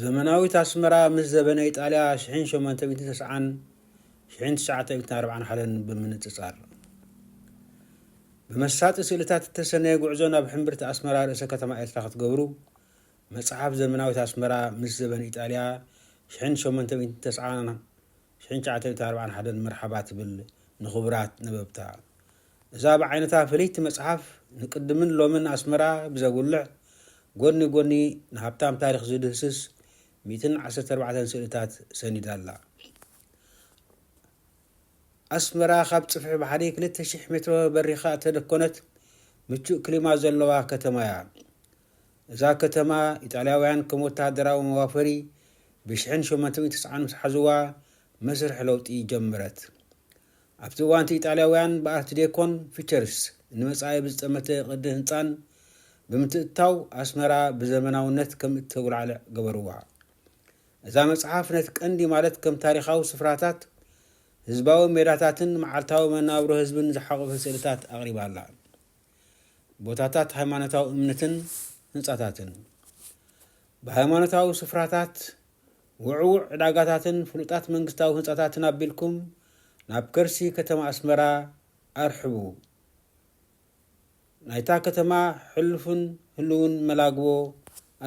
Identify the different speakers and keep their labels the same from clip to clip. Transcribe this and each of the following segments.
Speaker 1: ዘመናዊት ኣስመራ ምስ ዘበነ ኢጣልያ ሽሕን ሸሞንተ ሚእትን ተስዓን ሽሕን ትሽዓተ ሚእትን ኣርብዓን ሓለን ብምንጽጻር ብመሳጢ ስእልታት እተሰነየ ጉዕዞ ናብ ሕምብርቲ ኣስመራ ርእሰ ከተማ ኤርትራ ክትገብሩ መጽሓፍ ዘመናዊት ኣስመራ ምስ ዘበን ኢጣልያ 1890 ሽሕን ትሽዓተ ሚእትን ኣርባዓን ሓደን መርሓባ ትብል ንክቡራት ነበብታ። እዛ ብዓይነታ ፍልይቲ መጽሓፍ ንቅድምን ሎምን ኣስመራ ብዘጉልሕ ጎኒ ጎኒ ንሃብታም ታሪኽ ዝድህስስ ሚእትን ዓሰርተ ኣርባዕተን ስእልታት ሰኒዳ ኣላ። ኣስመራ ካብ ጽፍሒ ባሕሪ ክልተ ሽሕ ሜትሮ በሪኻ እተደኮነት ምቹእ ክሊማ ዘለዋ ከተማ'ያ። እዛ ከተማ ኢጣልያውያን ከም ወተሃደራዊ መዋፈሪ ብ ሽሕን ሸሞንተ ሚእቲ ትስዓን ምስ ሓዙዋ መስርሕ ለውጢ ጀመረት። ኣብቲ እዋን'ቲ ኢጣልያውያን ብ ኣርት ዴኮን ፊቸርስ ን መጻኢ ብ ዝጠመተ ቅዲ ህንጻን ብምትእትታው ኣስመራ ብ ዘመናውነት ከም እተጉላዕልዕ ገበሩዋ። እዛ መጽሓፍ ነቲ ቀንዲ ማለት ከም ታሪኻዊ ስፍራታት፣ ህዝባዊ ሜዳታትን መዓልታዊ መነባብሮ ህዝብን ዝሓቖፈ ስእልታት ኣቕሪባ ኣላ። ቦታታት ሃይማኖታዊ እምንትን ህንጻታትን፣ ብሃይማኖታዊ ስፍራታት፣ ውዕዉዕ ዕዳጋታትን ፍሉጣት መንግስታዊ ህንጻታትን ኣቢልኩም ናብ ከርሲ ከተማ ኣስመራ ኣርሕቡ። ናይታ ከተማ ሕሉፍን ህሉውን መላግቦ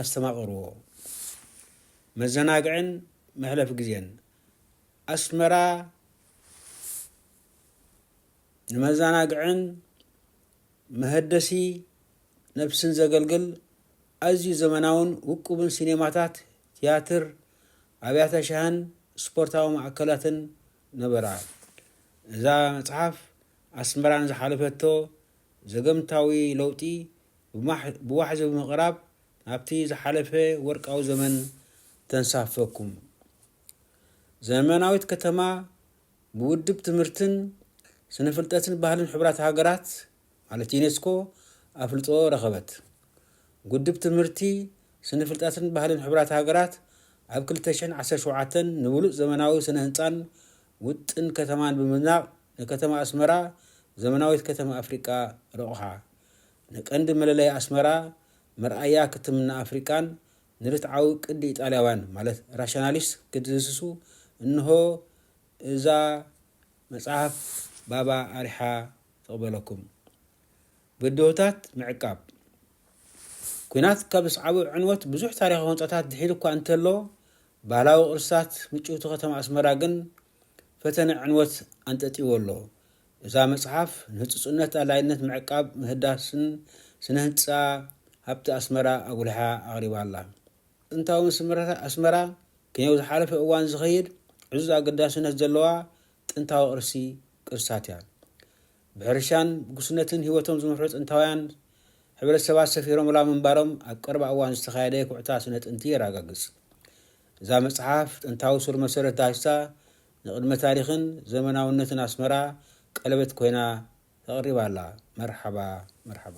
Speaker 1: ኣስተማቕርዎ። መዘናግዕን መሕለፊ ግዜን ኣስመራ ንመዘናግዕን መሀደሲ ነብስን ዘገልግል ኣዝዩ ዘመናውን ውቁብን ሲኔማታት፣ ትያትር፣ ኣብያተ ሻህን ስፖርታዊ ማእከላትን ነበራ። እዛ መጽሓፍ ኣስመራ ንዝሓለፈቶ ዘገምታዊ ለውጢ ብዋሕዚ ብምቕራብ ናብቲ ዝሓለፈ ወርቃዊ ዘመን ተንሳፍፈኩም። ዘመናዊት ከተማ ብውድብ ትምህርትን ስነፍልጠትን ባህልን ሕቡራት ሃገራት ማለት ዩኔስኮ ኣፍልጦ ረኸበት። ጉድብ ትምህርቲ ስነፍልጠትን ባህልን ሕቡራት ሃገራት ኣብ ክልተ ሽሕን ዓሰርተ ሸውዓተን ንብሉጽ ዘመናዊ ስነ ህንጻን ውጥን ከተማን ብምድናቕ ንከተማ ኣስመራ ዘመናዊት ከተማ ኣፍሪቃ ረቑሓ ንቀንዲ መለለይ ኣስመራ መርኣያ ክትምና ኣፍሪቃን ንርትዓዊ ቅዲ ኢጣልያውያን ማለት ራሽናሊስት ክትድህስሱ እንሆ እዛ መጽሐፍ ባባ ኣርሒሓ ትቕበለኩም። ብድሆታት ምዕቃብ። ኲናት ካብ ዘስዓቦ ዕንወት ብዙሕ ታሪኻዊ ህንጻታት ድሒሉ እኳ እንተሎ፣ ባህላዊ ቅርስታት ምጭውቲ ከተማ ኣስመራ ግን ፈተነ ዕንወት ኣንጠጥይዎ ኣሎ። እዛ መጽሓፍ ንህጹጽነት ኣላይነት ምዕቃብ ምህዳስን ስነ ህንጻ ሃብቲ ኣስመራ ኣጉሊሓ ኣቕሪባ ኣላ። ጥንታዊ ስምረታት ኣስመራ ክንየው ዝሓለፈ እዋን ዝኸይድ ዕዙዝ ኣገዳስነት ዘለዋ ጥንታዊ ቅርሲ ቅርስታት እያ። ብሕርሻን ብጉስነትን ህይወቶም ዝምርሑ ጥንታውያን ሕብረተሰባት ሰፊሮምላ ምንባሮም ኣብ ቀረባ እዋን ዝተኻየደ ኩዕታ ስነ ጥንቲ የረጋግጽ። እዛ መጽሓፍ ጥንታዊ ሱር መሰረት ዳህስታ ንቅድመ ታሪኽን ዘመናውነትን ኣስመራ ቀለበት ኮይና ተቀሪባ ኣላ መርሓባ መርሓባ።